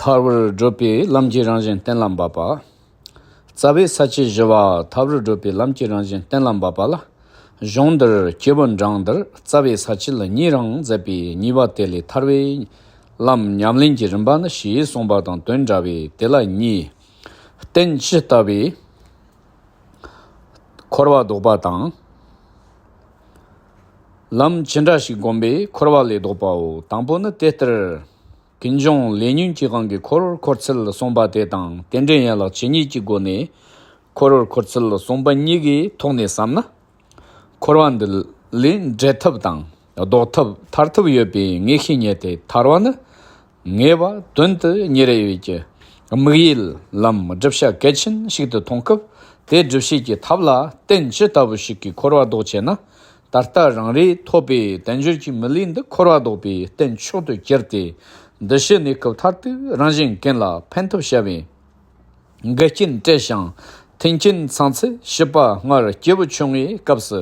ཐར་བར་བགྲོད་པའི་ལམ་གྱི་རང་བཞིན་གཏན་ལ་འབབ་པ། རྩ་བའི་ས་བཅད་བཞི་བ་ཐར་བར་བགྲོད་པའི་ལམ་གྱི་རང་བཞིན་གཏན་ལ་འབབ་པ་ལ། གཞུང་འདིར་སྐྱེས་བུ་འབྲང་འདིར་རྩ་བའི་ས་བཅད་ལ་གཉིས་རང་མཛད་པའི་གཉིས་པ་དེ་ལས་ཐར་བའི་ལམ་ཉམས་ལེན་གྱི་རིམ་པ་ནི་ཞེས་གསུངས་པ་དང་དོན་འདྲ་བས་དེ་ལ་གཉིས། རྟེན་ཇི་ལྟ་བའི་འཁོར་བ་ལྡོག་པ་དང། ལམ་ཇི་འདྲ་ཞིག་བསྒོམས་པའི་འཁོར་བ་ལས་ལྡོག་པའོ། དང་པོ་ནི་དེ་ལྟར། དེ་འབྱུང་ལས་ཉོན་གྱིས་གང་གིས་འཁོར་བར་འཁོར་ཚུལ་གསུངས་པ་དེ་དང་དེ་འདྲའི་ཡན་ལག་ཇི་སྙེད་ཀྱི་སྒོ་ནས་འཁོར་བར་འཁོར་ཚུལ་གསུངས་པ་ཉིད་ཀྱི་ཐོག་ནས་བསམ་ན། འཁོར་བ་འདི་ལས་འབྲལ་ཐབས་དང་ལྡོག་ཐབས་ཐར་ཐབས་ཡོད་པའི་ངེས་ཤེས་རྙེད་དེ་ཐར་བ་ནི་ངེས་པ་དོན་དུ་ཉིན་རེ་བའི་གྱི་དམིགས་ཡུལ་ལམ་བསྒྲུབ་བྱ་གལ་ཆེན་ཞིག་ཏུ་མཐོང་སྐབས་དེ་སྒྲུབ་བྱེད་ཀྱི་ཐབས་ལ་བརྟེན་ཇི་ལྟ་བུ་ཞིག་གིས་འཁོར་བ་ལྡོག་ཅེ་ན། ད་ལྟ་རང་རེས་ཐོབ་པའི་དལ་འབྱོར་གྱི་མི་ལུས་འདི་འཁོར་བ་ལྡོག་པའི་རྟེན་མཆོག་ཏུ་གྱུར་ཏེ། འདི་ཕྱི་གནས་སྐབས་མཐར་ཐུག་རང་བཞིན་མཁན་ལ་ཕན་ཐོགས་བྱ་བའི་འགལ་རྐྱེན་བྲལ་ཞིང་མཐུན་རྐྱེན་ཚང་ཚེ་ཞིབ་པ་སྔར་སྐྱེས་བུ་ཆུང་ངུའི་སྐབས་སུ་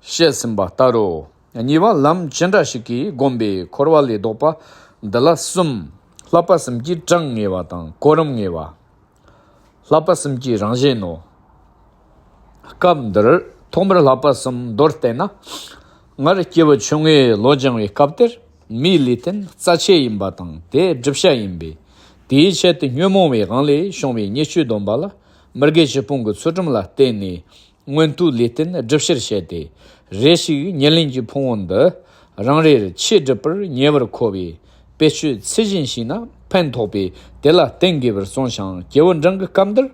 བཤད་ཟིན་པ་ལྟར་རོ། གཉིས་པ་ལམ་ཇི་འདྲ་ཞིག་གིས་བསྒོམས་པའི་འཁོར་བ་ལས་ལྡོག་པ་འདི་ལ་གསུམ། ལྷག་པར་སེམས་ཀྱི་གྲངས་ངེས་བ་དང་གོ་རིམ་ངེས་བ། ལྷག་པ་གསུམ་གྱི་རང་བཞིན་ནོ། སྐབས་འདིར་ཐོག་མར་ལྷག་པ་གསུམ་མདོར་བསྟན་ན། སྔར་སྐྱེས་བུ་ཆུང་ངུའི་ལོ་སྦྱང་བའི་སྐབས་དེར་མིའི་ལུས་རྟེན་རྩ་ཆེ་ཡིན་པ་དང་དེ་བསྒྲུབ་བྱ་ཡིན་པས། དེའི་ཆེད་དུ་ཉོན་མོངས་པའི་དབང་ལས་བྱུང་བའི་ཉེས་སྤྱོད་སྡོམ་པ་ལ་མི་དགེ་བཞི་སྤོང་གི་ཚུལ་ཁྲིམས་ལ་བརྟེན་ནས་སྔོན་དུས་ལས་རྟེན་སྒྲུབ་ཕྱིར་བཤད་དེ། རེ་ཞིག་ཉེར་ལེན་གྱི་ཕུང་བོ་འདི། རང་རེར་ཆེས་སྒྲུབ་པར་ཉེ་བར་མཁོ་བས། དཔེ་ཆོས་ཚུལ་བཞིན་ཤིས་ན་ཕན་ཐོགས་པས་དེ་ལ་བརྟེན་དགོས་པར་གསུངས་ཤིང་རྒྱལ་བུ་འབྲིང་གི་སྐབས་འདིར།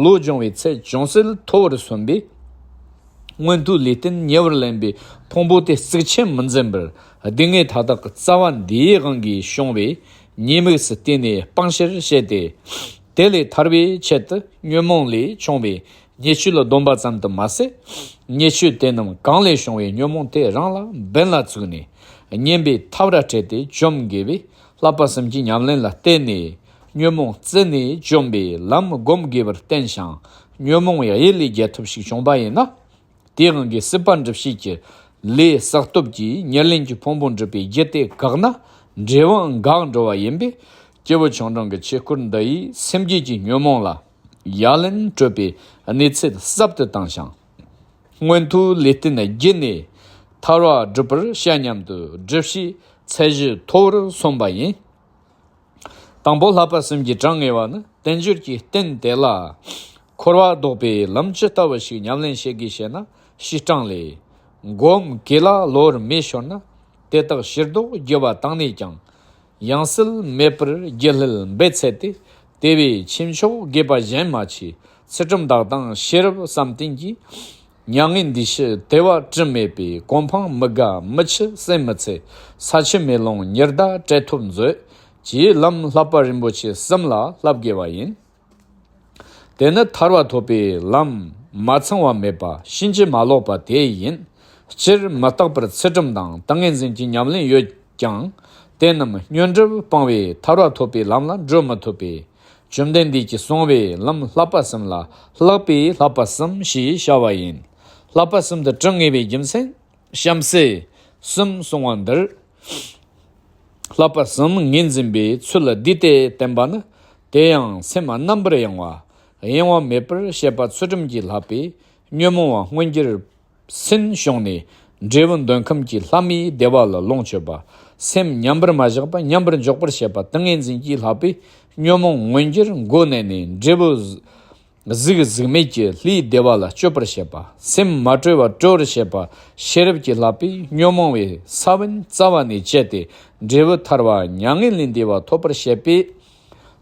ལོ་སྦྱོང་བའི་ཚད་ཅུང་ཟད་མཐོ་བར་སོན་པས། སྔོན་དུས་ལས་རྟེན་ཉེ་བར་ལེན་པའི་ཕུང་བོ་དེ་གཙིགས་ཆེན་མི་འཛིན་པར་སྡུག་བསྔལ་མཐའ་དག་རྩ་བ་འདིའི་དབང་གིས་བྱུང་བས་ཉེས་དམིགས་སུ་བལྟས་ནས་སྤང་བྱར་བཤད་དེ། དེ་ལས་ཐར་བའི་ཆེད་དུ་ཉོན་མོངས་ལས་བྱུང་བའི་ཉེས་སྤྱོད་ལ་སྡོམ་པ་ཙམ་དུ་མ་ཟད། ཉེས་སྤྱོད་དེ་རྣམས་གང་ལས་བྱུང་བའི་ཉོན་མོངས་དེ་རང་ལ་འབེན་ལ་བཙུགས་ནས་བསྙེན་པའི་ཐབས་ར་སྤྲད་དེ་བཅོམ་དགེ་བས་བསླབ་པ་གསུམ་གྱི་ཉམས་ལེན་ལ་བརྟེན་ནས་ཉོན་མོངས་བརྩི་ནས་བཅོམ་པའི་ལམ་བསྒོམ་དགོས་པར་བསྟན་ཞིང། ཉོན་མོངས་ཡེ་ལས་རྒྱལ་ཐུབ་ཞིག་བྱུང་བ་ཡིན་ན། དེའི་དབང་གིས་སྲིད་པ་འགྲུབ་བྱེད་ཀྱི་ལས་བསགས་སྟོབས་ཀྱིས་ཉེར་ལེན་གྱི་ཕུང་པོ་འགྲུབ་པའི་རྒྱུ་དེ་འགགས་ན་འབྲས་བུའང་འགག་འགྲོ་བ་ཡིན་པས། སྐྱེས་བུ་ཆུང་འབྲིང་གི་ཆོས་སྐུར་འདི་ཡིས་སེམས་བསྐྱེད་ཀྱི་ཉོན་མོངས་ལ་ཡ་ལན་སྤྲོད་པའི་གནས་ཚད་ཟབ་ཏུ་བཏང་ཞིང། མངོན་མཐོའི་ལས་རྟེན་བརྒྱུད་ནས་ཐར་བ་བསྒྲུབ་པར་བྱ་སྙམ་དུ་སྒྲུབ་བྱེད་ཚད་གཞི་མཐོ་བོར་སོང་བ་ཡིན། དང་པོ་ལྷག་པར་སེམས་ཀྱི་གྲངས་ངེས་བ་ནི་བསྟན་བཅོས་ཀྱི་རྟེན་དེ་ལ་འཁོར་བ་བཟློག་པའི་ལམ་ཇི་ལྟ་བུ་ཞིག་ཉམས་ལེན་བྱེད་དགོས་ཤེ་ན་བྱེ་བྲང་ལས། སྒོམ་གེ་ལ་ལོར་མེ་ཤོར་ན་དེ་དག་ཕྱིར་བཟློག་རྒྱུ་བ་དང་ནས་ཀྱང། ཡང་སིལ་མེད་པར་རྒྱུ་ལྷིལ་འབེ་ཚད་དེ་དེ་བས་ཁྱིམ་ཕྱོགས་དགེ་པ་གཞན་མ་ཆེ་ཚུལ་ཁྲིམས་བདག་དང་ཤེས་རབ་བསམ་གཏན་གྱིས་མྱ་ངན་འདི་ཕྱི་དལ་བ་དྲི་མེད་པའི་གོ་འཕང་མི་དགའ་མི་འཆི་སེམས་མི་ཚེ་ས་ཕྱི་མེ་ལོང་ཉི་ཟླ་བྲལ་ཐུབ་མཛོད་ཀྱི་ལམ་ལྷག་པ་རིན་པོ་ཆེ་གསུམ་ལ་བསླབ་དགོས་པ་ཡིན། དེ་ནི་ཐར་བ་ཐོབ་པའི་ལམ་མ་ཚང་བ་མེད་པ་གཤིན་རྗེ་མ་ལོག་པ་དེ་ཡིན། སྤྱིར་མི་རྟག་པར་ཚེ་གྲུབ་དང་ཏིང་ངེ་འཛིན་གྱི་ཉམས་ལེན་ཡོད་ཀྱང། དེ་རྣམས་སྨྱོན་གྲུབ་སྤང་བས་ཐར་བ་ཐོབ་པའི་ལམ་ལ་འགྲོ་མི་ཐུབ་པས། བཅོམ་ལྡན་འདས་ཀྱིས་གསང་བའི་ལམ་ལྷག་པར་གསུམ་ལ་ལྷག་པའི་ལྷག་པ་གསུམ་ཞེས་བྱ་བ་ཡིན། ལྷག་པ་གསུམ་དུ་དྲི་ངེས་པའི་རྒྱུ་མཚན། གཤམ་གསལ། གསུམ་གསུང་བ་འདིར། ལྷག་པ་གསུམ་ངེས་འཛིན་པའི་ཚུལ་འདི་ལྟས་བསྟན་པ་ནི། དེ་ཡང་སེམས་རྣམ་པར་གཡེང་བ་གཡེང་བ་མེད་པར་བཤད་པ་ཚུལ་ཁྲིམས་ཀྱི་ལྷག་པས་ཉོན་མོངས་བ་མངོན་གྱུར། སེམས་བྱུང་ནས་འབྲས་བུ་འདོད་ཁམས་ཀྱི་ལྷ་མིའི་བདེ་བ་ལ་ལོངས་སྤྱོད་པ། སེམས་མཉམ་པར་མ་བཞག་པ་མཉམ་པར་འཇོག་པར་བྱེད་པ་ཏིང་ངེ་འཛིན་གྱི་ལྷག་པའི་ཉོན་མོངས་མངོན་གྱུར་མགོ་གནད་ནས་འབྲས་བུ། གཟུགས་གཟུགས་མེད་ཀྱི་ལྷའི་བདེ་བ་ལ་སྤྱོད་པར་བྱེད་པ། སེམས་མ་གྲོལ་བ་སྤྲོ་བར་བྱེད་པ་ཤེས་རབ་ཀྱི་ལྷག་པའི་ཉོན་མོངས་བའི་ས་བོན་རྩ་བ་ནས་བཅད་དེ་འབྲས་བུ་ཐར་བ་མྱ་ངན་ལས་འདས་པ་ཐོབ་པར་བྱེད་པས།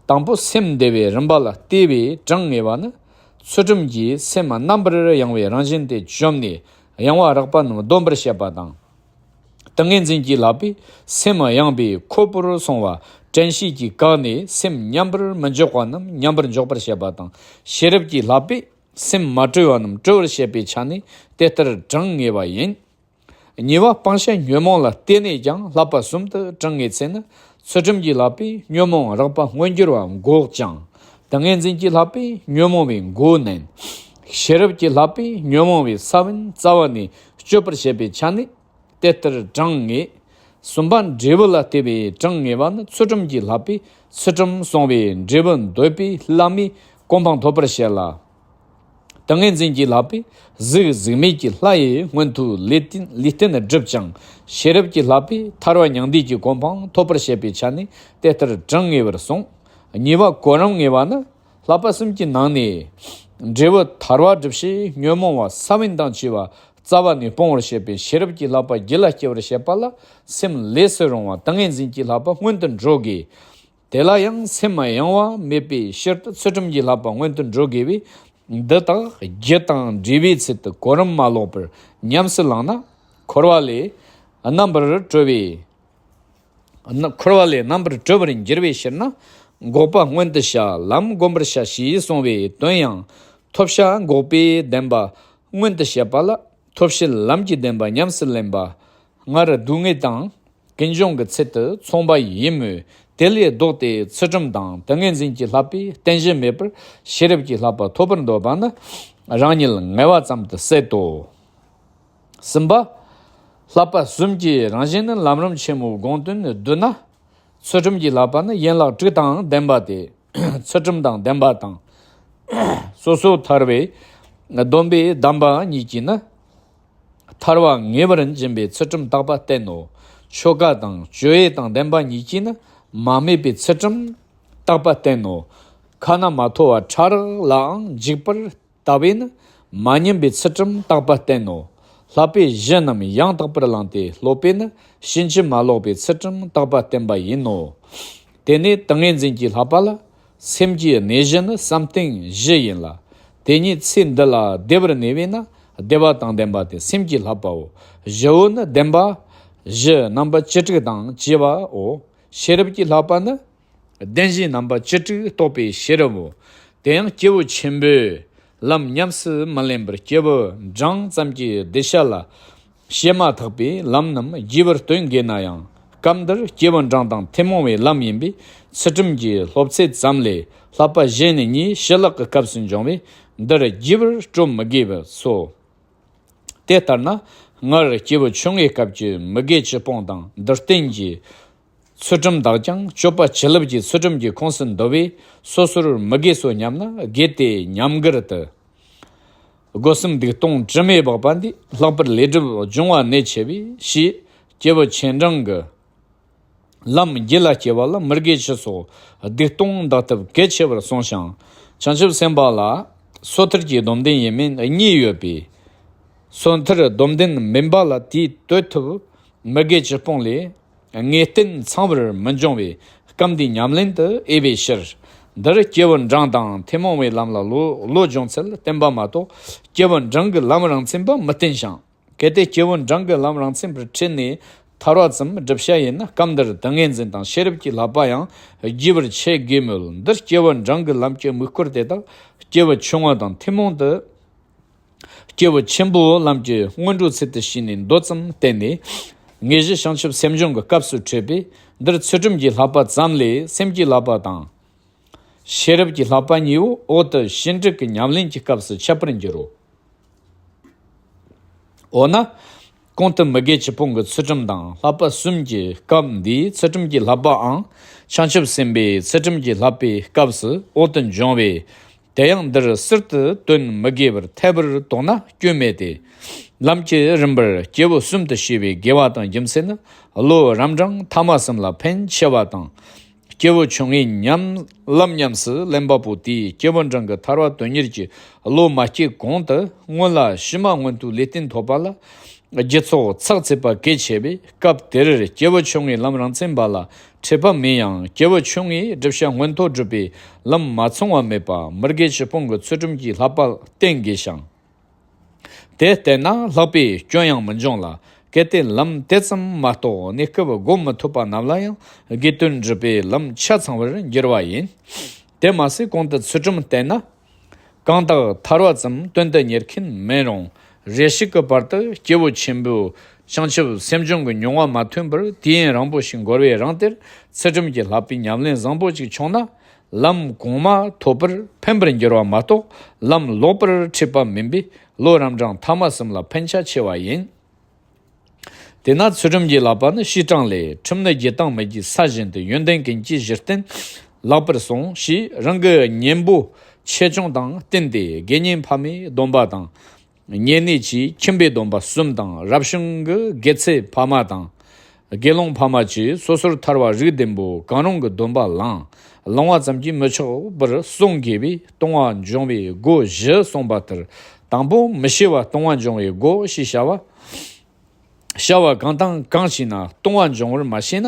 དང་པོ་སེམས་བདེ་བའི་རིམ་པ་ལ་ལྟོས་བའི་གྲངས་ངེས་པ་ནི། ཚུལ་ཁྲིམས་ཀྱི་མཚན་མ་རྣམ་པར་ཡང་བའི་རང་བཞིན་དེ་བཅོམ་ནས་ཡང་བ་རགས་པ་རྣམས་སྡོམ་པར་བྱེད་པ་དང། ཏིང་ངེ་འཛིན་གྱིས་ལག་པའི་མཚན་མ་ཡངས་པའི་ཁོལ་པོར་སོང་བ་དྲན་ཤེས་ཀྱིས་བཀག་ནས་སེམས་མཉམ་པར་མི་འཇོག་པ་རྣམས་མཉམ་པར་འཇོག་པར་བྱེད་པ་དང། ཤེས་རབ་ཀྱིས་ལག་པའི་སེམས་མ་བཀྲོལ་བ་རྣམས་བཀྲོལ་བར་བྱེད་པའི་ཆ་ནི་དེ་ལྟར་གྲངས་ངེས་པ་ཡིན། གཉིས་པ་སྤང་བྱ་ཉོན་མོངས་ལ་བརྟེན་ནས་ཀྱང་ལྷག་པ་གསུམ་དུ་བགྲང་ངེས་ཚེ་ནི། ཚུལ་ཁྲིམས་ཀྱིས་ལྷག་པའི་ཉོན་མོངས་རགས་པ་མངོན་གྱུར་བ་འགོག་ཅིང། ཏིང་ངེ་འཛིན་གྱིས་ལྷག་པའི་ཉོན་མོངས་པའི་མགོ་མནན། ཤེས་རབ་ཀྱིས་ལྷག་པའི་ཉོན་མོངས་པའི་ས་བོན་རྩ་བ་ནས་གཅོད་པར་བྱེད་པའི་ཆ་ནས་དེ་ལྟར་བགྲང་ངེས། གསུམ་པ་འབྲས་བུ་ལ་བལྟས་པའི་བགྲང་ངེས་པ་ནི་ཚུལ་ཁྲིམས་ཀྱིས་ལྷག་པའི་ཚུལ་ཁྲིམས་བསྲུང་བས་འབྲས་བུ་འདོད་པའི་བླ་མའི་གོ་འཕང་ཐོབ་པར་བྱེད་ལ། ཏིང་ངེ་འཛིན་གྱིས་ལག་པས་གཟིགས་གཟིགས་མེད་ཀྱི་ལྷ་ཡི་སྔོན་དུ་ལུས་རྟེན་བསྒྲུབ་ཅིང་ཤེས་རབ་ཀྱི་ལག་པས་ཐར་བ་མྱང་འདས་ཀྱི་གོ་འཕང་ཐོབ་པར་བྱེད་པའི་ཆ་ནས་དེ་ལྟར་བགྲང་ངེས་པར་གསུངས། གཉིས་པ་གོ་རིམ་ངེས་པ་ནི། ལྷག་པ་གསུམ་གྱི་ནང་ནས། འབྲས་བུ་ཐར་བ་སྒྲུབ་བྱེད་ཉོན་མོངས་བ་ས་བོན་དང་བཅས་པ་རྩ་བ་ནས་སྤོང་བར་བྱེད་པའི་ཤེས་རབ་ཀྱི་ལག་པ་བགྱི་ལ་སྐྱེ་བར་བྱེད་པ་ལ་སེམས་ལས་སུ་རུང་བ་ཏིང་ངེ་འཛིན་གྱི་ལག་པ་སྔོན་དུ་འགྲོ་དགོས། དེ་ལ་ཡང་སེམས་མ་ཡེངས་བ་མེད་པའི་ཕྱིར་དུ་ཚུལ་ཁྲིམས་ཀྱི་ལྷག་པ་སྔོན་དུ་འགྲོ་དགོས་པས་འདི་དག་རྒྱུ་དང་འབྲས་བུའི་ཚུལ་དུ་གོ་རིམ་མ་ལོག་པར་ཉམས་སུ་བླངས་ན། འཁོར་བ་ལས་རྣམ་པར་གྲོལ་བའི་འཁོར་བ་ལས་རྣམ་པར་གྲོལ་བར་འགྱུར་བའི་ཕྱིར་ན་འགོག་པ་སྔོན་དུ་བྱ་ལམ་བསྒོམ་པར་བྱ་ཞེས་གསུངས་བའི་དོན་ཡང། ཐོབ་བྱ་འགོག་པའི་བདེན་པ་སྔོན་དུ་བྱེད་པ་ལ་ཐོབ་བྱའི་ལམ་གྱི་བདེན་པ་ཉམས་སུ་ལེན་པ། སྔར་སྡུག་བསྔལ་དང་ཀུན་འབྱུང་གི་ཚུལ་དུ་མཚུངས་པ་ཡིན་མོད་དེ་ལས་ལྡོག་སྟེ་ཚུལ་ཁྲིམས་དང་ཏིང་ངེ་འཛིན་གྱི་ལྷག་པའི་རྟེན་གཞི་མེད་པར་ཤེས་རབ་ཀྱི་ལྷག་པ་ཐོབ་པར་འདོད་པ་ནི་རང་ཉིད་ངལ་བ་ཙམ་དུ་ཟད་དོ། གསུམ་པ། ལྷག་པ་གསུམ་གྱི་རང་བཞིན་ནི་ལམ་རིམ་ཆེན་མོའི་དགོངས་དོན་ནི་བསྡུ་ན། ཚུལ་ཁྲིམས་ཀྱི་ལྷག་པ་ནི་ཡན་ལག་དྲུག་དང་ལྡན་པ་སྟེ་ཚུལ་ཁྲིམས་དང་ལྡན་པ་དང། སོ་སོར་ཐར་བའི་སྡོམ་པའི་གདམས་པ་གཉིས་ཀྱིས་ནི། ཐར་བ་ངེས་པར་འབྱིན་པའི་ཚུལ་ཁྲིམས་རྟག་པ་བསྟན་ནོ། ཆོ་ག་དང་སྤྱོད་ཡུལ་དང་ལྡན་པ་ཉིད་ཀྱིས་ནི་མ་སྨྲས་པའི་ཚུལ་ཁྲིམས་རྟག་པ་བསྟན་ནོ། ཁ་ན་མ་ཐོ་བ་ཕྲ་རགས་ལའང་འཇིགས་པར་ལྟ་བས་ནི་མ་བསྙེམས་པའི་ཚུལ་ཁྲིམས་རྟག་པ་བསྟན་ནོ། ལྷག་པའི་གཞི་རྣམས་ཡང་དག་པར་བླངས་ཏེ་སློབ་པས་ནི་ཕྱིན་ཅི་མ་ལོག་པའི་ཚུལ་ཁྲིམས་རྟག་པ་བསྟན་པ་ཡིན་ནོ། དེ་ནས་ཏིང་ངེ་འཛིན་གྱིས་ལྷག་པ་ལ། སེམས་ཀྱི་གནས་བཞི་ནི་བསམ་གཏན་བཞི་ཡིན་ལ། དེ་ཉིད་ཚེ་འདི་ལ་བདེ་བར་གནས་པས་ན་བདེ་བ་དང་ལྡན་པ་སྟེ་སེམས་ཀྱི་ལྷག་པའོ། བཞི་བོ་ནི་བདེན་པ། བཞི་རྣམ་པ་བཅུ་དྲུག་དང་བཅས་པའོ། ཤེས་རབ་ཀྱི་ལྷག་པ་ནི། བདེན་བཞི་རྣམ་པ་བཅུ་དྲུག་རྟོགས་པའི་ཤེས་རབ་བོ། དེ་ཡང་སྐྱེས་བུ་ཆེན་པོས། ལམ་ཉམས་སུ་མི་ལེན་པར་སྐྱེས་བུ་འབྲང་ཙམ་གྱི་གདུལ་བྱ་ལ། བཤད་མ་ཐག་པའི་ལམ་རྣམས་རྒྱས་པར་སྟོན་དགོས་ན་ཡང་སྐབས་འདིར་སྐྱེ་བོ་འབྲང་དང་ཐེན་མོང་བའི་ལམ་ཡིན་པས་ཚུལ་ཁྲིམས་ཀྱི་སློབ་ཚད་ཙམ་ལས་ལྷག་པ་གཞན་ནི་གཉིས་བྱི་ལག་གི་སྐབས་སུ་འབྱུང་བས་འདིར་རྒྱས་པར་སྤྲོ་མི་དགོས་པས་སོ། དེ་ལྟར་ན་སྔར་སྐྱེས་བུ་ཆུང་ངུའི་སྐབས་ཀྱི་མི་དགེ་ཆོས་སྤོང་དང་འདིར་བསྟན་གྱི། ཚུལ་ཁྲིམས་དག་ཀྱང་སྤྱོད་པ་བྱིན་རླབས་ཀྱི་ཚུལ་ཁྲིམས་ཀྱི་ཁོངས་སུ་འདུ་བས་སོ་སོར་མི་དགེ་སོ་སྙམ་ན་དགེ་དེ་ཉམས་གར་དུ། སྒོ་གསུམ་སྡིག་ལྟུང་དྲི་མས་སྦགས་པ་འདི་ལྷག་པར་ལས་སྒྲིབ་སྦྱོང་བ་གནད་ཆེ་བས་ཞེས་སྐྱེས་བུ་ཆེན་འབྲིང་གི། ལམ་རྒྱུད་ལ་སྐྱེ་བ་ལ་མི་དགེ་བཅུ་སོགས་སྡིག་ལྟུང་འདག་ཐབས་གལ་ཆེ་བར་གསུངས་ཤིང། བྱང་ཆུབ་སེམས་དཔའ་ལ། སོ་ཐར་གྱི་སྡོམ་ལྡན་ཡིན་མིན་གཉིས་ཡོད་པས། སོ་ཐར་སྡོམ་ལྡན་མིན་པ་ལ་དེའི་དོད་ཐུབ་མི་དགེ་བཅུ་སྤོང་ལས། ངེས་བརྟན་ཚང་བར་མི་འབྱུང་བའི་སྐབས་འདིའི་ཉམས་ལེན་དུ་དབྱེ་བའི་ཕྱིར། འདིར་སྐྱེས་བུ་འབྲང་དང་ཐུན་མོང་བའི་ལམ་ལ་བློ་སྦྱོང་ཚུལ་བསྟན་པ་མ་གཏོགས་སྐྱེས་བུ་འབྲང་གི་ལམ་རང་མཚན་པ་མི་བསྟན་ཞིང། གལ་ཏེ་སྐྱེས་བུ་འབྲང་གི་ལམ་རང་མཚན་པར་ཁྲིད་ནས་ཐར་བ་ཙམ་བསྒྲུབ་བྱ་ཡིན་ན་སྐབས་འདིར་ཏིང་ངེ་འཛིན་དང་ཤེས་རབ་ཀྱི་ལྷག་པ་ཡང་རྒྱས་པར་འཆད་དགོས་མོད་འདིར་སྐྱེས་བུ་འབྲང་གི་ལམ་གྱི་དམིགས་སྐོར་དེ་དག་སྐྱེས་བུ་ཆུང་ངུ་དང་ཐུན་མོང་དུ། སྐྱེས་བུ་ཆེན་པོའི་ལམ་གྱི་སྔོན་འགྲོའི་ཚུལ་དུ་ཕྱིས་ནས་མདོ་ཙམ་བསྟན་ནས། དངོས་གཞི་བྱང་ཆུབ་སེམས་སྦྱོང་གི་སྐབས་སུ་འཕྲོས་པས་འདིར་ཚུལ་ཁྲིམས་ཀྱི་ལྷག་པ་ཙམ་ལས་སེམས་ཀྱི་ལྷག་པ་དང། ཤེས་རབ་ཀྱི་ལྷག་པ་གཉིས་པོ་འོག་ཏུ་ཞི་འགྲིག་གི་ཉམས་ལེན་གྱི་སྐབས་སུ་འཆད་པར་འགྱུར་རོ། འོ་ན། གོང་དུ་མི་དགེ་བཅུ་སྤོང་གི་ཚུལ་ཁྲིམས་དང་ལྷག་པ་གསུམ་གྱི་སྐབས་འདིའི་ཚུལ་ཁྲིམས་ཀྱི་ལྷག་པའང་བྱང་ཆུབ་སེམས་དཔའི་ཚུལ་ཁྲིམས་ཀྱི་ལྷག་པའི་སྐབས་སུ་འོག་ཏུ་འབྱུང་བས་དེ་ཡང་འདིར་གསེར་དུ་སྟོན་མི་དགེ་བར་ཐལ་བར་དོགས་ན་སྐྱོན་མེད་དེ། ལམ་གྱི་རིམ་པར་སྐྱེས་བུ་གསུམ་དུ་ཤེས་པའི་དགེ་བ་དང་རྒྱུ་མཚན་ནི་བློ་རབ་འབྲང་མཐའ་མ་གསུམ་ལ་ཕན་ཆེ་བ་དང། སྐྱེས་བུ་ཆུང་ངུའི་ཉམས་ལམ་ཉམས་སུ་ལེན་པ་པོ་དེས་སྐྱེས་བུ་འབྲང་གི་ཐར་བ་དོན་གཉེར་གྱི་བློ་མ་སྐྱེས་གོང་དུ་སྔོན་ལ་ཕྱི་མ་སྔོན་དུ་ལུས་རྟེན་ཐོབ་པ་ལ་རྒྱུ་ཚོགས་ཚགས་ཚུད་པ་གལ་ཆེ་བས་སྐབས་དེར་སྐྱེས་བུ་ཆུང་ངུའི་ལམ་རང་མཚན་པ་ལ་འཕྲད་པ་མིན་ཡང་སྐྱེ་བོ་ཆུང་ངུའི་སྒྲིབ་བྱ་མངོན་མཐོ་སྒྲུབ་པའི་ལམ་མ་མཚུངས་བ་མེད་པར་མི་དགེ་བཅུ་སྤོང་གི་ཚུལ་ཁྲིམས་ཀྱི་ལྷག་པར་བསྟེན་དགོས་ཤིང། དེ་བསྟེན་ན་ལྷག་པའི་སྐྱོན་ཡང་མི་འབྱུང་ལ། གལ་ཏེ་ལམ་དེ་ཙམ་མ་རྟོགས་ནས་སྐབས་བསྒོམ་མི་ཐུབ་པ་རྣམས་ལ་ཡང་དགེ་འདུན་སྒྲུབ་པའི་ལམ་ཆ་ཚང་བར་འགྱུར་བ་ཡིན། དེར་མ་ཟད་གོང་དུ་ཚུལ་ཁྲིམས་བསྟེན་ན། གང་དག་ཐར་བ་ཙམ་དོན་དུ་གཉེར་མཁན་མིན་རུང། རེ་ཞིག་གི་བར་དུ་སྐྱེ་བོ་ཆེན་པོའི་བྱང་ཆུབ་སེམས་སྦྱོང་གི་མྱོང་བ་མ་ཐོན་པར་དུས་ཡུན་རིང་པོ་ཞིག་འགོར་བའི་རང་དེར་ཚུལ་ཁྲིམས་ཀྱི་ལྷག་པའི་ཉམས་ལེན་བཟང་པོ་ཅིག་བྱུང་ན། ལམ་གོང་མ་ཐོབ་པར་ཕན་པར་འགྱུར་བ་མ་གཏོགས་ལམ་ལོག་པར་འཁྲིད་པ་མིན་པས་བློ་རམས་གྲངས་མཐའ་མ་གསུམ་ལ་ཕན་ཆ་ཆེ་བ་ཡིན། དེས་ན་ཚུལ་ཁྲིམས་ཀྱི་བསླབ་པ་ནི་ཕྱིས་དྲངས་ལས་ཁྲིམས་ནི་རྒྱུད་དང་མི་རྒྱུད་ས་བཞིན་དུ་ཡོན་ཏན་གྱི་གྱི་གཞིར་བརྟེན་བརླག་པར་གསུངས་ཞེས་རང་གི་གཉེན་པོ་ཆེ་ཆུང་དང་བསྟུན་ཏེ་དགེ་བསྙེན་ཕ་མའི་སྡོམ་པ་དང། གཉེན་གནས་ཀྱི་ཁྱིམ་པའི་སྡོམ་པ་གསུམ་དང་རབ་བྱུང་གི་དགེ་ཚེ་ཕ་མ་དང། དགེ་སློང་ཕ་མ་བཅས་སོ་སོར་ཐར་བ་རིགས་ལྡན་པོ་གང་རུང་གི་སྡོམ་པ་བླངས་བླང་བ་ཙམ་གྱིས་མི་ཆོག་པར་གསུངས་དགེ་བའི་ལྟུང་བ་འབྱུང་བའི་སྒོ་བཞི་གསུངས་པ་ལྟར་དང་པོ་མི་ཤེས་བ་ལྟུང་བ་འབྱུང་བའི་སྒོ་ཞེས་བྱ་བ། བྱ་བ་གང་དང་གང་བྱས་ན་ལྟུང་བ་འབྱུང་བར་མ་ཤེས་ན་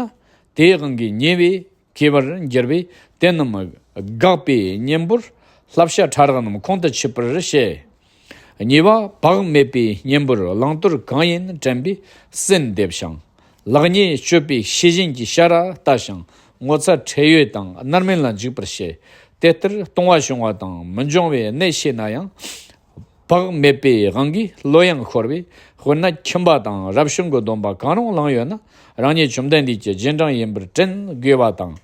དེའི་དབང་གིས་ཉེས་པའི། ཁྱད་པར་འགྱུར་བས་དེ་རྣམས་དགག་པའི་གཉེན་པོར་ལྷ་བཤའ་ཕྲ་རགས་རྣམས་ཁོང་དུ་ཆུད་པར་བཤད། གཉིས་པ་བག་མེད་པའི་གཉེན་པོར་བླང་དོར་གང་ཡིན་དྲན་པས་སེམས་འདེབས་ཤིང། ལག་གཉིས་སྤྱོད་པས་ཤེས་བཞིན་གྱི་ཤ་ར་ལྟ་ཞིང་ངོ་ཚ་ཁྲེལ་ཡོད་དང་རྣར་མིན་ལ་འཇུག་པར་བྱེད། དེ་ལྟར་ལྟུང་བ་བྱུང་བ་དང་མི་འབྱུང་བའི་གནད་ཤེས་ན་ཡང། བག་མེད་པའི་དབང་གིས་བློ་ཡང་འཁོར་བས་དཔེར་ན་ཁྱིམ་པ་དང་རབ་བྱུང་གི་སྡོམ་པ་གང་རུང་བླངས་ཡོད་ན་རང་ཉིད་བཅོམ་ལྡན་འདས་ཀྱི་རྗེས་འབྲང་ཡིན་པར་དྲན་དགོས་པ་དང།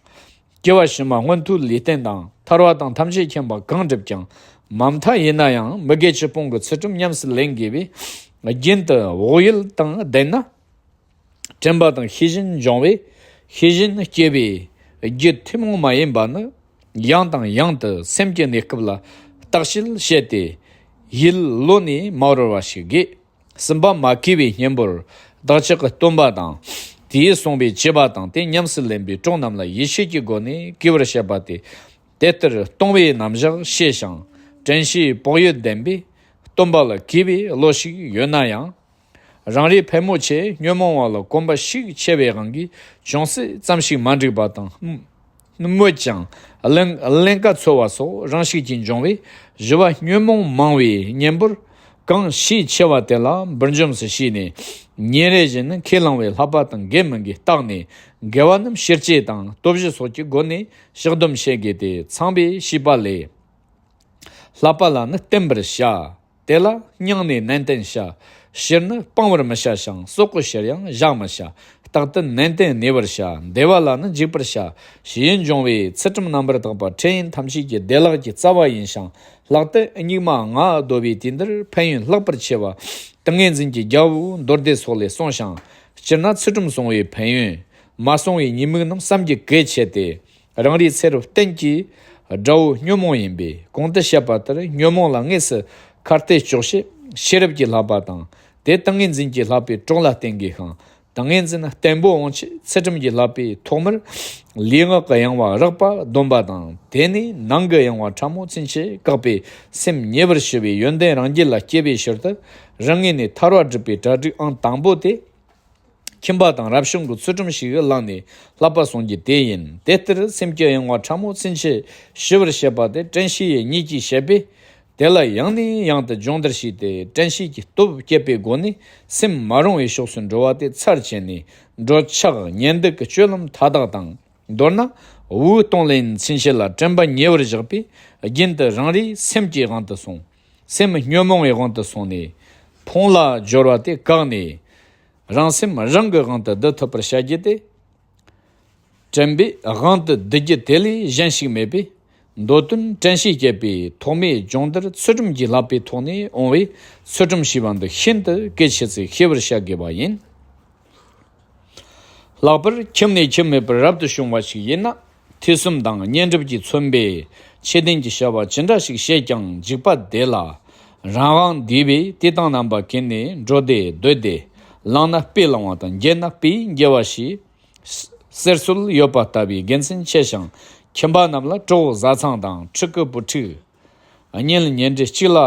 སྐྱེ་བ་ཕྱི་མ་སྔོན་མཐུ་ལས་རྟེན་དང་ཐར་བ་དང་ཐམས་ཅད་མཁྱེན་པ་གང་བསྒྲུབས་ཀྱང་མ་མཐའ་ཡིན་ན་ཡང་མི་དགེ་སྤྱི་སྤོང་གི་ཚུལ་ཁྲིམས་ཉམས་སུ་ལེན་དགོས་པས་རྒྱུན་དུ་བག་ཡོད་དང་ལྡན་ན། དྲན་པ་དང་ཤེས་བཞིན་སྦྱོང་བས་ཤེས་བཞིན་སྐྱེ་བས་རྒྱུ་ཐུན་མོང་མ་ཡིན་པ་ནི་ཡང་དང་ཡང་དུ་སེམས་ཀྱི་གནས་སྐབས་ལ་བརྟགས་ཤིང་དཔྱད་དེ། ཡིད་བློ་ནི་མ་རོལ་བ་ཞིག་དགོས། སེམས་པ་མ་སྐྱེས་པའི་གཉེན་པོར་བདག་ཅག་གི་སྟོན་པ་དང། དེས་གསུངས་པའི་སྐྱེས་པ་དང་དེ་ཉམས་སུ་ལེན་པའི་གྲོགས་རྣམས་ལ་ཡིད་ཆེས་ཀྱི་སྒོ་ནས་བགྱི་བར་བཤད་པ་སྟེ། དེ་ལྟར་སྟོང་བའི་རྣམ་གཞག་ཤེས་ཤིང་དྲན་ཤེས་བག་ཡོད་ལྡན་པས་སྟོན་པ་ལ་གུས་པའི་བློ་ཞིག་ཡོད་ན་ཡང། རང་རེའི་ཕལ་མོ་ཆེས་ཉོན་མོངས་བ་ལ་གོམས་པ་ཤུགས་ཆེ་བའི་དབང་གིས་ཅུང་ཟད་ཙམ་ཞིག་མ་འགྲིག་པ་དང། སྨོས་ཀྱང། ཀླན་ཀ་ཚོལ་བ་སོགས་རང་ཤུགས་ཀྱིས་འབྱུང་བས་བཞི་བ་ཉོན་མོངས་མང་བའི་གཉེན་པོར། གང་ཤས་ཆེ་བ་དེ་ལ་འབུར་འཇོམས་སུ་ཤེས་ནས། ཉིན་རེ་བཞིན་ནི་ཁས་བླངས་བའི་ལྷག་པ་དང་འགལ་མི་འགལ་བརྟགས་ནས། འགལ་བ་རྣམས་ཕྱིར་བཅད་དང་སྟོབས་བཞི་སོགས་ཀྱི་སྒོ་ནས་བཤགས་སྡོམ་བྱེད་དགོས་ཏེ་ཚངས་པའི་བྱིས་པ་ལས། ལྷག་པ་ལ་ནི་བསྟེན་པར་བྱ། དེ་ལ་སྙིང་ནས་ནན་ཏན་བྱ། བཤེར་ནི་སྤང་བར་མི་བྱ་ཞིང་སྲོག་གི་བཤེར་ཡང་བཞག་མི་བྱ། རྟག་ཏུ་ནན་ཏན་གནས་པར་བྱ། བདེ་བ་ལ་ནི་འཇིགས་པར་བྱ། ཞེས་འབྱུང་བས་ཚུལ་ཁྲིམས་རྣམ་པར་དག་པ་འཕྲལ་ཡུན་ཐམས་ཅད་ཀྱི་བདེ་བླག་གི་རྩ་བ་ཡིན་ཞིང་ལྷག་ཏུ་སྙིགས་མ་ལྔ་བདོ་བའི་དུས་འདིར་ཕན་ཡོན་ལྷག་པར་ཆེ་བ། ཏིང་ངེ་འཛིན་གྱི་རྒྱལ་པོ་མདོར་བསྡུས་སོགས་ལས་གསུངས་ཤིང། སྤྱིར་ན་ཚུལ་ཁྲིམས་བསྲུང་བའི་ཕན་ཡོན། མ་བསྲུང་བའི་ཉེས་དམིགས་རྣམས་བསམ་གྱིས་གོས་ཆེ་སྟེ། རང་རིག་ཚེ་རབས་གཏན་གྱི་དགྲ་བོ་ཉོན་མོངས་ཡིན་པས་གོང་དུ་བཤད་པ་ལྟར་ཉོན་མོངས་ལ་དངོས་སུ་གར་སྟེ་ལྕོགས་ཤིག་ཤེས་རབ་ཀྱིས་ལྷག་པ་དང་དེ་ཏིང་ངེ་འཛིན་གྱིས་ལྷག་པའི་གྲོགས་ལ་བསྟེན་དགོས་ཤིང་ཏིང་ངེ་འཛིན་བརྟན་པོ་འོང་ཆེད་ཚེ་ཁྲིམས་ཀྱིས་ལྷག་པའི་ཐོག་མར་ལུས་ངག་གི་ཡང་བ་རགས་པ་སྡོམ་པ་དང་དེ་ནས་ནང་གི་ཡང་བ་ཕྲ་མོ་ཚུན་ཆད་བཀག་པས་སེམས་ཉེ་བར་ཞི་བའི་ཡོན་ཏན་རང་རྒྱུད་ལ་སྐྱེ་བའི་ཕྱིར་དུ་རང་ངོས་ནས་ཐར་བ་སྒྲུབ་པའི་གྲ་སྒྲིག་ཨང་དང་པོ་དེ། ཁྱིམ་པ་དང་རབ་བྱུང་གི་ཚུལ་ཁྲིམས་ཞིག་བླངས་ནས་ལྷག་པར་བཟུང་རྒྱུ་དེ་ཡིན། དེ་ལྟར་སེམས་སྐྱོ་ཡང་བ་ཕྲ་མོ་ཚིན་ཆེ་ཞི་བར་བྱེད་པ་དེ་བཀྲ་ཤིས་ཡས་ཉིད་ཀྱིས་བྱེད་པས། དེ་ལ་ཡང་ནས་ཡང་དུ་སྦྱོང་བརྡར་བྱས་ཏེ་བཀྲ་ཤིས་ཀྱི་སྟོབས་བསྐྱེད་པའི་སྒོ་ནས་སེམས་མ་རུང་བའི་ཕྱོགས་སུ་འགྲོ་བ་དེ་ཚར་བཅད་ནས་འགྲོ། ཕྱག་གཉེན་སྡིག་གི་སྤྱོད་ལམ་མཐའ་དག་དང་མདོར་ན་དབུལ་གཏོང་ལེན་ཚིན་ཆེ་ལ་དྲན་པ་ཉེ་བར་བཞག་པས་རྒྱུན་དུ་རང་རེའི་སེམས་ཀྱི་དབང་དུ་སོང། སེམས་ཉོན་མོངས་པའི་དབང་དུ་སོང་ནས། ཕུང་ལ་སྦྱོར་བ་དེ་བཀག་ནས། རང་སེམས་རང་གི་དབང་དུ་བསྡུ་ཐུབ་པར་བྱ་རྒྱུ་དེ། དྲན་པའི་དབང་དུ་བསྡུ་རྒྱུ་དེ་ལས་གཞན་ཞིག་མེད་པས། མདོ་དོན་དྲན་ཤེས་བསྐྱེད་པའི་ཐོག་མའི་སྦྱོང་བརྡར་ཚུལ་ཁྲིམས་ཀྱི་ལྷག་པའི་ཐོག་ནས་འོང་བས་ཚུལ་ཁྲིམས་ཞེས་པ་འདི་ཤིན་ཏུ་གལ་ཆེ་ཚེ་ཤེས་པར་བྱ་དགོས་པ་ཡིན། ལྷག་པར་ཁྱིམ་ནས་ཁྱིམ་མེད་པར་རབ་ཏུ་བྱུང་བ་ཞིག་ཡིན་ན་ཐེ་ཚོམ་དང་བསྙེན་སྒྲུབ་ཀྱིས་མཚོན་པས་ཆད་ལྡན་གྱི་བྱ་བ་ཇི་འདྲ་ཞིག་བྱས་ཀྱང་འཇིགས་པ་བདེ་ལ། རང་དབང་བདེ་བས་བསྟི་སྟང་རྣམ་པ་གྱེར་ནས་འགྲོ་བདེ་སྡོད་བདེ། བླངས་ན་དཔེ་བླང་བ་དང་འགྱེལ་ན་དཔེ་འགྱེལ་བ་ཞེས། གསེར་གསོལ་ཡོད་པ་ལྟ་བུའི་དགེ་མཚན་ཆེ་ཞིང་ཁྱིམ་པ་རྣམས་ལ་གྲོགས་བཟའ་ཚང་དང་ཕྲུ་གུ་བུ་ཕྲུག། གཉེན་ལ་ཉེ་འབྲེལ་གཅིག་ལ་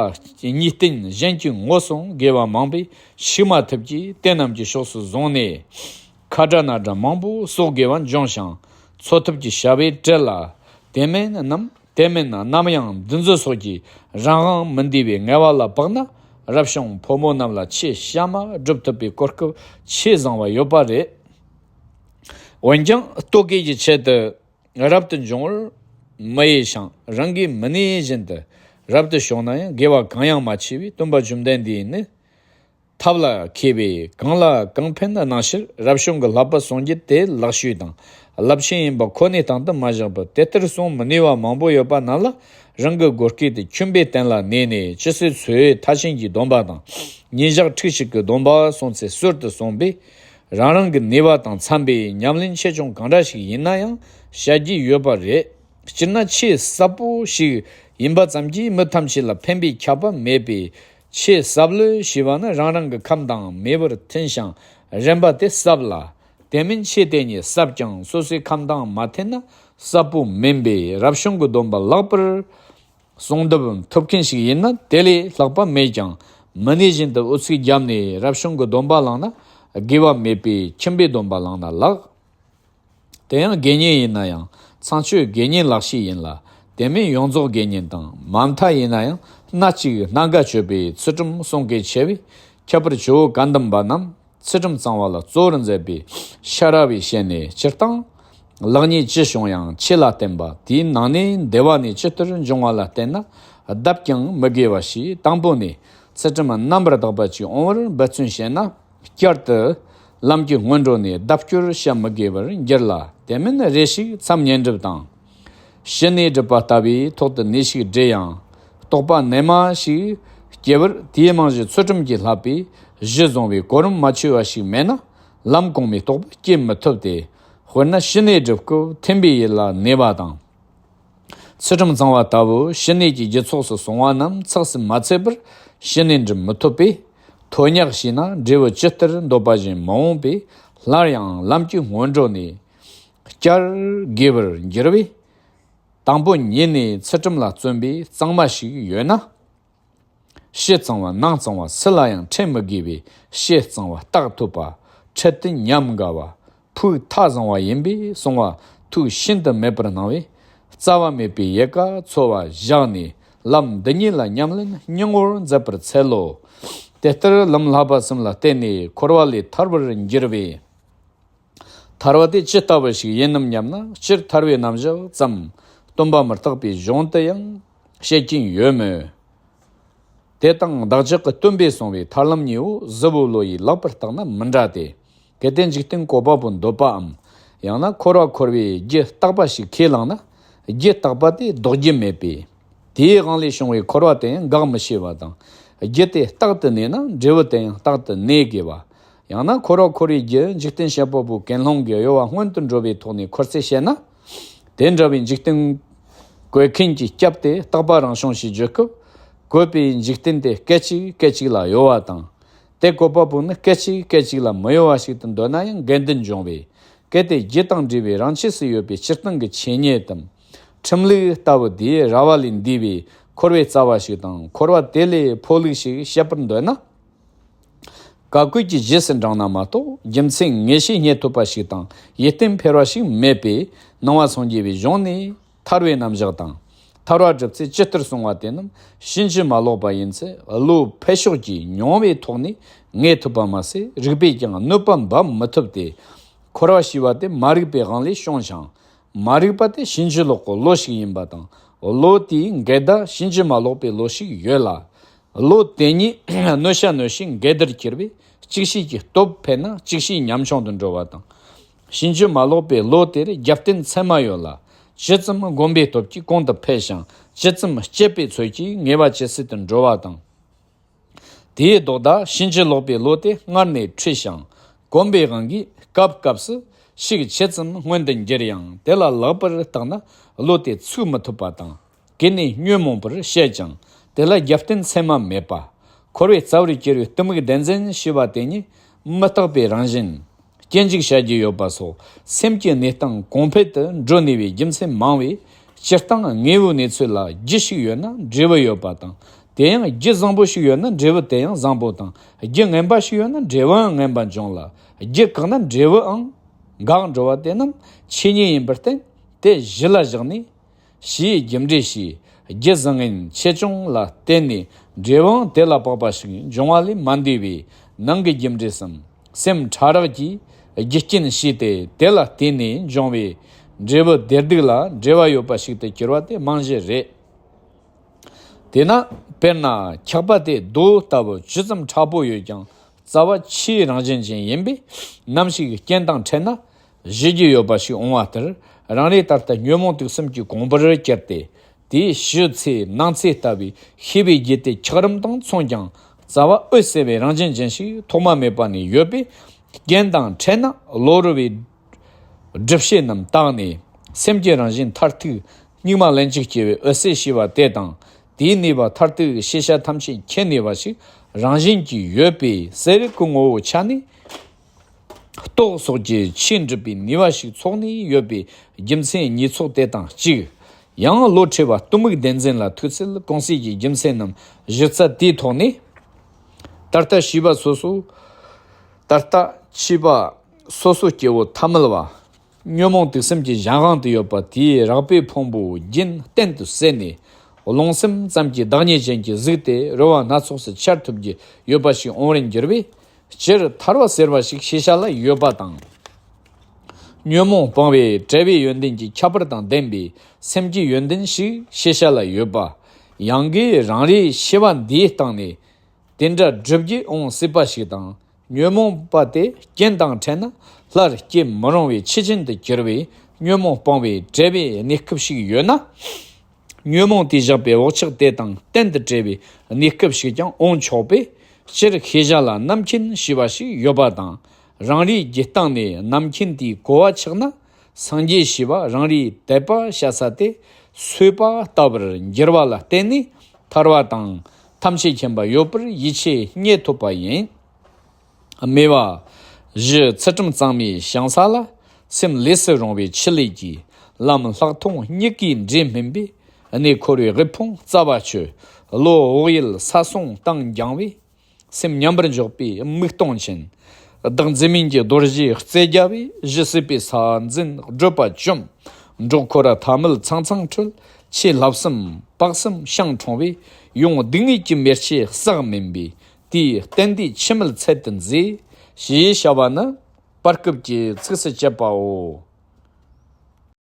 གཉིས་བརྟེན་གཞན་གྱི་ངོ་སྲུང་དགེ་བ་མང་པས་ཤི་མ་ཐུབ་ཀྱིས་དེ་རྣམས་ཀྱི་ཕྱོགས་སུ་བཟུང་ནས། ཁ་དྲག་ན་དྲག་མང་པོ་སོགས་དགེ་བ་འབྱུང་ཞིང་འཚོ་ཐབས་ཀྱི་བྱ་བས་བྲེལ་ལ། དེ་མེད་ནམ་དེ་མེད་ན་ནམ་ཡང་འདུ་འཛི་སོགས་ཀྱིས་རང་དབང་མི་འདུས་པའི་ངལ་བ་ལ་བབ་ན་རབ་བྱུང་ཕོ་མོ་རྣམས་ལ་ཆེས་གཤའ་མ་སྒྲུབ་ཐུབ་པའི་གོ་སྐབས་ཆེས་བཟང་བ་ཡོད་པ་རེད། འོན་ཀྱང་ལྟོ་གོས་ཀྱི་ཆེད་དུ། རབ་ཏུ་འབྱུང་བར་མི་དབྱེ་ཞིང་རང་གིས་མི་གནས་བཞིན་དུ་རབ་ཏུ་ཞོག་ན་ཡང་དགེ་བ་གང་ཡང་མ་མཆིས་པས་སྟོན་པ་བཅོམ་ལྡན་འདས་ནི་ཐབས་ལ་མཁས་པས་གང་ལ་གང་ཕན་གནང་ཕྱིར་རབ་བྱུང་གི་ལྷག་པར་སངས་རྒྱས་དེའི་ལག་ཤུལ་དང་རླབས་ཆེན་ཡིན་པ་ཁོ་ནའི་དང་དུ་མ་བཞག་པར་དེ་ལྟར་གསུང་མི་ནུས་བ་མང་པོ་ཡོད་པ་རྣམས་ལ་རང་གི་སྒོ་སྐྱེས་ཏེ་ཁྱིམ་པའི་སྟན་ལ་གནས་ནས་ཅི་སྲིད་འཚོའི་མཐའ་ཆེན་གྱི་སྡོམ་པ་དང་ཉིན་ཞག་ཁྲིག་ཅིག་གི་སྡོམ་པ་སོང་ཚེ་གསོལ་དུ་སོང་པས་རང་རང་གི་ནུས་པ་དང་འཚམ་པའི་ཉམས་ལེན་ཆེད་སྦྱོང་གང་འདྲ་ཞིག་ཡིན་ན་ཡང་བྱ་རྒྱུ་ཡོད་པ་རེད། སྤྱིར་ན་ཆེས་ཟབ་པོ་ཞིག་ཡིན་པ་ཙམ་གྱིས་མི་ཐམས་ཅད་ལ་ཕན་པའི་ཁྱབ་པ་མེད་པས། ཆེས་ཟབ་ལོས་ཞེས་པ་ནི་རང་རང་གི་ཁམས་དང་མི་བར་འཐེན་ཞིང་རན་པ་དེ་ཟབ་ལ། དེ་མིན་ཆེས་དེ་ཉིད་ཟབ་ཀྱང་སོ་སོའི་ཁམས་དང་མ་འཐེན་ན་ཟབ་པོ་མིན་པས་རབ་བྱུང་གི་སྡོམ་པ་ལག་པར་གསུང་བརྡབ་ཐུབ་མཁན་ཞིག་ཡིན་ན་དེ་ལས་ལྷག་པ་མེད་ཀྱང་མི་གནས་བཞིན་དུ་ཨུ་ཚུགས་བརྒྱབ་ནས་རབ་བྱུང་གི་སྡོམ་པ་བླངས་ན་དགེ་བ་མེད་པས་ཁྱིམ་པའི་སྡོམ་པ་བླངས་ན་ལགས། དེ་ཡང་དགེ་བསྙེན་ཡིན་ན་ཡང་ཚངས་སྤྱོད་དགེ་བསྙེན་ལག་ཤེས་ཡིན་ལ་དེ་མིན་ཡོངས་རྫོགས་དགེ་བསྙེན་དང་མ་མཐའ་ཡིན་ན་ཡང་སྣ་གཅིག་སྣ་འགའ་སྤྱོད་པའི་ཚུལ་ཁྲིམས་བསྲུང་གལ་ཆེ་བས་ཁྱད་པར་ཇོ་བོ་བཀའ་གདམས་པ་རྣམས་ཚེ་ཁྲིམས་གཙང་བ་ལ་གཙོ་བོར་མཛད་པའི་ཤ་ར་བའི་ཞལ་ནས་སྤྱིར་བཏང་ལེགས་ཉེས་ཅི་བྱུང་ཡང་ཆེས་ལ་བསྟན་པ་དེའི་ནང་ནས་འདས་བ་ནས་ཅི་ལྟར་འབྱུང་བ་ལ་བལྟས་ན་གདབ་ཀྱང་མི་དགེ་བ་ཞིག་དང་པོ་ནས་ཚེ་ཁྲིམས་རྣམ་པར་དག་པ་ཅིག་འོང་བར་འབད་བརྩོན་བྱས་ན་བསྐྱར་དུ་ལམ་གྱི་སྔོན་འགྲོ་ནས་ལྡབ་སྐྱོར་བྱ་མི་དགོས་པར་འགྱུར་ལ་དེ་མིན་རེ་ཞིག་མཚམས་ཉེ་འགྲུབ་དང། ཞི་གནས་སྒྲིབ་པ་ལྟ་བུའི་ཐོག་ཏུ་ནད་ཞིག་འདྲེས་ཡང་རྟོག་པ་རྣལ་མ་ཞིག་སྐྱེ་བར་དེའི་རྨང་གཞི་ཚུལ་ཁྲིམས་ཀྱི་ལྷག་པའི་གཞི་བཟུང་བའི་གོ་རིམ་མ་འཆོལ་བ་ཞིག་མེད་ན་ལམ་གོང་མའི་རྟོག་པ་སྐྱེ་མི་ཐུབ་སྟེ། དཔེར་ན་ཞི་གནས་སྒྲིབ་སྐུད་ཐིམ་པའི་ཡུལ་ལ་གནས་པ་དང། ཚུལ་ཁྲིམས་གཙང་བ་ལྟ་བུ་ཞི་གནས་ཀྱི་རྒྱུ་ཚོགས་སུ་བཟུང་བ་རྣམས་ཚགས་སུ་མ་ཚུད་པར་ཞི་གནས་འགྲིབ་མི་ཐུབ་པས། ཐོ་སྙག་ཤེས་ན་འབྲས་བུ་ཇི་ལྟར་འདོད་པ་བཞིན་མ་འོངས་པས་སླར་ཡང་ལམ་གྱི་སྔོན་འགྲོ་ནས་བསྐྱར་དགེ་བར་འགྱུར་བས། དང་པོ་ཉིད་ནས་ཚུལ་ཁྲིམས་ལ་བརྩོན་པའི་གཙང་མ་ཞིག་ཡོད་ན། ཕྱི་གཙང་བ་ནང་གཙང་བ་སུ་ལ་ཡང་འཕྲད་མི་དགོས་པའི་ཕྱི་གཙང་བ་རྟགས་ཐོབ་པ། ཁྲི་སྟི་ཉམས་དགའ་བ། ཕུགས་མཐའ་བཟང་བ་ཡིན་པས་སོང་བ་ཐུགས་ཤིན་ཏུ་མེད་པར་སྣང་བས། རྩ་བ་མེད་པའི་ཡལ་ག་འཚོལ་བ་བཞག་ནས་ལམ་འདི་ཉིད་ལ་ཉམས་ལེན་སྙིང་བོར་མཛད་པར་འཚལ་ལོ། དེ་ལྟར་ལམ་ལྷག་པ་གསུམ་ལ་བརྟེན་ནས་འཁོར་བ་ལས་ཐར་བར་འགྱུར་བས། ཐར་བ་དེ་ཇི་ལྟ་བུ་ཞིག་ཡིན་ནམ་སྙམ་ན་སྤྱིར་ཐར་བའི་རྣམ་གཞག་ཙམ་སྟོན་པ་མི་རྟག་པའི་གཞུང་དུ་ཡང་བཤད་ཀྱིན་ཡོད་མོད། དེ་དང་བདག་ཅག་གི་སྟོན་པས་གསུངས་བའི་ཐར་ལམ་གཉིས་པོ་གཟུ་བོའི་བློ་ཡིས་བཀླགས་པར་བརྟགས་ན་མི་འདྲ་སྟེ། གལ་ཏེ་འཇིག་རྟེན་གོ་བ་པོ་འདོད་པའམ་ཡང་ན་འཁོར་བ་འཁོར་བའི་རྒྱུ་རྟག་པ་ཞིག་ཁས་བླངས་ན། རྒྱུ་རྟག་པ་དེ་ལྡོག་རྒྱུ་མེད་པས། དེའི་དབང་ལས་བྱུང་བའི་འཁོར་བ་དེ་ཡང་འགག་མི་ཤེས་པ་དང། རྒྱུ་དེ་རྟག་ཏུ་གནས་ན་འབྲས་བུ་དེ་ཡང་རྟག་ཏུ་གནས་དགོས་པ། ཡང་ན་འཁོར་བ་འཁོར་བའི་རྒྱུ་འཇིག་རྟེན་ཤེལ་བུ་པོ་གན་སློང་གི་གཡོ་བ་སྔོན་དུ་འགྲོ་བའི་ཐོག་ནས་འཁོར་ཚད་བཤད་ན། དེ་འདྲ་བའི་འཇིག་རྟེན་བཀོད་མཁན་གྱི་སྐྱབས་དེ་རྟག་པ་རང་བྱུང་ཞེས་བརྗོད་སྐབས། བཀོད་པའི་འཇིག་རྟེན་དེ་སྐད་ཅིག་སྐད་ཅིག་ལ་གཡོ་བ་དང། དེ་བཀོད་པ་པོ་ནི་སྐད་ཅིག་སྐད་ཅིག་ལ་མི་གཡོ་བ་ཞིག་ཏུ་འདོད་ན་ཡང་འགལ་འདུ་འབྱུང་བས། གལ་ཏེ་རྒྱུ་དང་འབྲས་བུའི་རང་ཆས་སུ་ཡོད་པའི་སྤྱིར་བཏང་གི་ཆོས་ཉིད་དམ། ཁྲིམས་ལུགས་ལྟ་བུ་དེས་ར་བ་ལས་འདས་པའི་འཁོར་བའི་རྩ་བ་ཞིག་དང་འཁོར་བ་དེ་ལས་འཕོ་ལུགས་ཤིག་བཤད་པར་འདོད་ན། ག་བཀོད་ཀྱི་གཞི་ཟིན་དྲང་ན་མ་གཏོགས་རྒྱུ་མཚན་ངེས་ཤེས་རྙེད་ཐུབ་པ་ཞིག་དང་ཡིད་རྟོན་འཕེར་བ་ཞིག་མེད་པས་སྣང་བ་ཚང་རྒྱས་པའི་གཞུང་ནས་ཐར་བའི་རྣམ་གཞག་དང། ཐར་བ་གྲུབ་ཚེ་ཇི་ལྟར་གསུང་བ་དེ་རྣམས་ཕྱིན་ཅི་མ་ལོག་པ་ཡིན་ཚེ་བློའི་འཕེལ་ཕྱོགས་ཀྱིས་མྱོང་བའི་ཐོག་ནས་ངེས་ཐུབ་པ་མ་ཟད་རིགས་པས་ཀྱང་གནོད་པ་འབབ་མི་ཐུབ་སྟེ། འཁོར་བ་ཞེས་པ་དེ་མ་རིག་པའི་དབང་ལས་བྱུང་ཞིང་མ་རིག་པ་དེ་ཕྱིན་ཅི་ལོག་གི་བློ་ཞིག་ཡིན་པ་དང་བློ་དེའི་འགལ་ཟླ་ཕྱིན་ཅི་མ་ལོག་པའི་བློ་ཞིག་ཡོད་ལ། བློ་དེ་གཉིས་གནོད་བྱ་གནོད་བྱེད་འགལ་ཟླར་གྱུར་པས་གཅིག་ཤོས་ཀྱི་སྟོབས་འཕེལ་ན་གཅིག་ཤོས་ཉམ་ཆུང་དུ་འགྲོ་བ་དང། ཕྱིན་ཅི་མ་ལོག་པའི་བློ་དེར་རྒྱབ་རྟེན་མཚན་མ་ཡོད་ལ། ཇི་ཙམ་བསྒོམ་པའི་སྟོབས་ཀྱིས་གོང་དུ་འཕེལ་ཞིང་ཇི་ཙམ་སྤྱད་པའི་ཚུལ་གྱིས་ངེས་པ་ཇི་སྲིད་དུ་འགྲོ་བ་དང། དེའི་ལྡོག་ཟླ་ཕྱིན་ཅི་ལོག་པའི་ལོ་དེ་སྔར་ནས་འཁྲུལ་ཞིང་གོམས་པའི་དབང་གིས་སྐབས་སྐབས་སུ་ཤིག་ཕྱེད་ཙམ་སྔོན་དུ་འགྱུར་ཡང་དེ་ལ་ལེགས་པར་བརྟགས་ན་ལོ་དེ་ཚུགས་མི་ཐུབ་པ་དང། གི་ནས་ཉོན་མོངས་པར་བཤད་ཀྱང་དེ་ལ་རྒྱབ་རྟེན་མཚན་མ་མེད་པ། འཁོར་བའི་རྩ་བར་གྱུར་བའི་གཏི་མུག་བདེན་འཛིན་ཞི་བ་དེ་ཉིད་མི་རྟག་པའི་རང་བཞིན་སྐྱེ་འཇིག་བྱ་རྒྱུ་ཡོད་པ་སོགས་སེམས་ཀྱི་གནས་སྟངས་གོང་འཕེལ་དུ་འགྲོ་ནུས་པའི་རྒྱུ་མཚན་མང་བས། སྤྱིར་བཏང་དངོས་པོའི་གནས་ཚུལ་ལ་རྒྱུ་ཞིག་ཡོད་ན་འབྲས་བུ་ཡོད་པ་དང། དེ་ཡང་རྒྱུ་བཟང་པོ་ཞིག་ཡོད་ན་འབྲས་བུ་དེ་ཡང་བཟང་པོ་དང། རྒྱུ་ངན་པ་ཞིག་ཡོད་ན་འབྲས་བུའང་ངན་པ་འབྱུང་ལ། རྒྱུ་བཀག་ན་འབྲས་བུའང་འགག་འགྲོ་བ་དེ་རྣམས་ཆོས་ཉིད་ཡིན་པར་བསྟན། དེ་གཞི་ལ་བཞག་ནས། བཞིའི་རྒྱུ་འབྲས་བཞིའི་རྒྱུ་བཟང་ངན་ཆེ་ཆུང་ལ་བརྟེན་ནས་འབྲས་བུ་དེ་ལ་དཔག་པ་ཞིག་འབྱུང་བ་ལས་མ་འདས་པའི་ནང་གི་རྒྱུ་འབྲས་སམ་སེམས་ཕྲ་རགས་ཀྱི་རྒྱུ་རྐྱེན་བཞི་སྟེ་དེ་ལ་བརྟེན་ནས་འབྱུང་བའི་འབྲས་བུ་བདེར་སྡུག་ལ་འབྲེལ་བ་ཡོད་པ་ཞིག་ཏུ་གྱུར་བ་དེ་རྨང་གཞི་རེད། དེས་ན་དཔེར་ན་འཁྱག་པ་དེ་རྡོ་ལྟ་བུ་ཇི་ཙམ་ཁྲ་པོ་ཡོད་ཀྱང་རྩ་བ་ཆུའི་རང་བཞིན་ཅན་ཡིན་པས་ནམ་ཞིག་རྐྱེན་དང་འཕྲད་ན་བཞེས་རྒྱུ་ཡོད་པ་ཞིག་འོང་བ་ལྟར་རང་རེ་ད་ལྟ་ཉོན་མོངས་དུག་གསུམ་གྱི་གོང་བུར་གྱར་ཏེ། དེའི་གཞི་ཚེའི་སྣང་ཚེ་ལྟ་བུའི་ཤེས་པའི་རྒྱུད་དེ་འཁྱགས་རོམ་དང་མཚུངས་ཀྱང་རྩ་བ་འོད་གསལ་བའི་རང་བཞིན་ཅན་ཞིག་ཐོག་མ་མེད་པ་ནས་ཡོད་པས། རྐྱེན་དང་འཕྲད་ན་བློ་རུལ་བའི་སྒྲིབ་བྱེད་རྣམས་དག་ནས་སེམས་ཀྱི་རང་བཞིན་མཐར་ཐུག་སྙིགས་མ་ལན་གཅིག་སྐྱེ་བའི་འོད་གསལ་ཞེས་པ་དེ་དང་དེའི་ནུས་པ་མཐར་ཐུག་གི་ཤེས་བྱ་ཐམས་ཅད་མཁྱེན་ནུས་པ་ཞིག་རང་བཞིན་གྱིས་ཡོད་པས་གསལ་རིག་གི་ངོ་བོའི་ཆ་ནས། ཏོག་སོགས་ཀྱི་ཆེས་འགྲིབ་པའི་ནུས་བ་ཞིག་ཚོགས་ནས་ཡོད་པའི་རྒྱུ་མཚན་ཉིས་ཚོགས་དེ་དང་གཅིག། ཡང་བློ་འཁྲེལ་བ་གཏི་མུག་བདེན་འཛིན་ལ་ཐུག་ཚེ་གང་སྲིད་ཀྱི་རྒྱུ་མཚན་ནམ་གཞི་རྩ་དེའི་ཐོག་ནས། ད་ལྟ་བྱིས་པ་སོ་སོ། ད་ལྟ་བྱིས་པ་སོ་སོ་སྐྱེ་བོ་ཐ་མལ་བ། ཉོན་མོངས་དུག་སེམས་ཀྱི་གཞན་དབང་དུ་ཡོད་པ་དེའི་རགས་པའི་ཕུང་པོ་རྒྱན་གཏན་དུ་བསལ་ནས། རླུང་སེམས་ཙམ་གྱི་བདག་ཉིད་ཅན་གྱི་གཟུགས་དེ་རོལ་བ་སྣ་ཚོགས་སུ་འཆར་ཐུབ་ཀྱི་ཡོད་པ་ཞིག་འོང་བར་འགྱུར་བས། སྤྱིར་ཐར་བ་ཟེར་བ་ཞིག་ཤེས་བྱ་ལ་ཡོད་པ་དང། ཉོན་མོངས་སྤངས་པའི་བྲལ་བའི་ཡོན་ཏན་གྱི་ཁྱད་པར་དང་ལྡན་པའི་སེམས་ཀྱི་ཡོན་ཏན་ཞིག་ཤེས་བྱ་ལ་ཡོད་པ། ཡང་གིས་རང་རེའི་ཤེས་པ་འདིའི་སྟེང་ནས། དེ་འདྲ་བསྒྲུབ་རྒྱུ་འོང་སྲིད་པ་ཞིག་དང་ཉོན་མོངས་པ་སྟེ་རྐྱེན་དང་བྲལ་ན་སླར་སྐྱེ་མི་རུང་བའི་ཕྱི་རྐྱེན་དུ་གྱུར་པའི་ཉོན་མོངས་སྤོང་བའི་བྲལ་བའི་གནས་སྐབས་ཤིག་ཡོད་ན། ཉོན་མོངས་དེས་བཞག་པའི་འོག་ཆགས་དེ་དང་གཏན་དུ་བྲལ་བའི་གནས་སྐབས་ཤིག་ཀྱང་འོང་ཆོག་པས། སྤྱིར་ཤེས་བྱ་ལ་རྣམ་མཁྱེན་ཞེས་པ་ཞིག་ཡོད་པ་དང། རང་རེའི་རྒྱུད་སྟངས་ནས་རྣམ་མཁྱེན་དེའི་གོ་བ་ཆགས་ན། སངས་རྒྱས་ཞེས་པ་རང་རེའི་དད་པ་བཤའ་ས་སྟེ་གསོལ་པ་ལྟ་བུར་འགྱུར་བ་ལ་བརྟེན་ནས་ཐར་བ་དང་ཐམས་ཅད་མཁྱེན་པ་ཡོད་པར་ཡིད་ཆེས་རྙེད་ཐུབ་པ་ཡིན། སྨྲས་པ། བཞི་ཚེ་ཁྲིམས་གཙང་མའི་བྱང་ས་ལ། སེམས་ལས་སུ་རུང་བའི་ཕྱི་ལས་ཀྱི། ལམ་ལྷག་མཐོང་གཉིས་ཀའི་འབྲས་སྨིན་པའི། གནས་འཁོར་བའི་དབུལ་ཕོངས་རྩ་བ་ཆོད། བློ་བག་ཡུལ་ས་སོང་སྟངས་འགྱངས་བའི། སེམས་མཉམ་པར་འཇོག་པའི་དམིགས་སྟོང་ཅན། བདག་འཛིན་མིན་གྱི་རྡོ་རྗེའི་རྩལ་རྒྱ་བས་གཞི་སྲིད་པའི་ས་འཛིན་བགྲོད་པ་བཅོམ། འབྲོག་འཁོར་ར་ཐ་མལ་ཚང་ཚང་འཁྲུལ། ཆེས་ལྷག་བསམ་དཔག་བསམ་ཤང་གྲོང་བས། ཡོངས་སྡུག་བསྔལ་གྱི་མེར་ཆེ་བསགས་མིན་པས། དེས་གཏན་བདེའི་འཆི་མེད་ཚད་དུ་མཛེས། ཞེས་བྱ་བ་ནི། བར་སྐབས་ཀྱི་ཚིགས་སུ་བཅད་པའོ།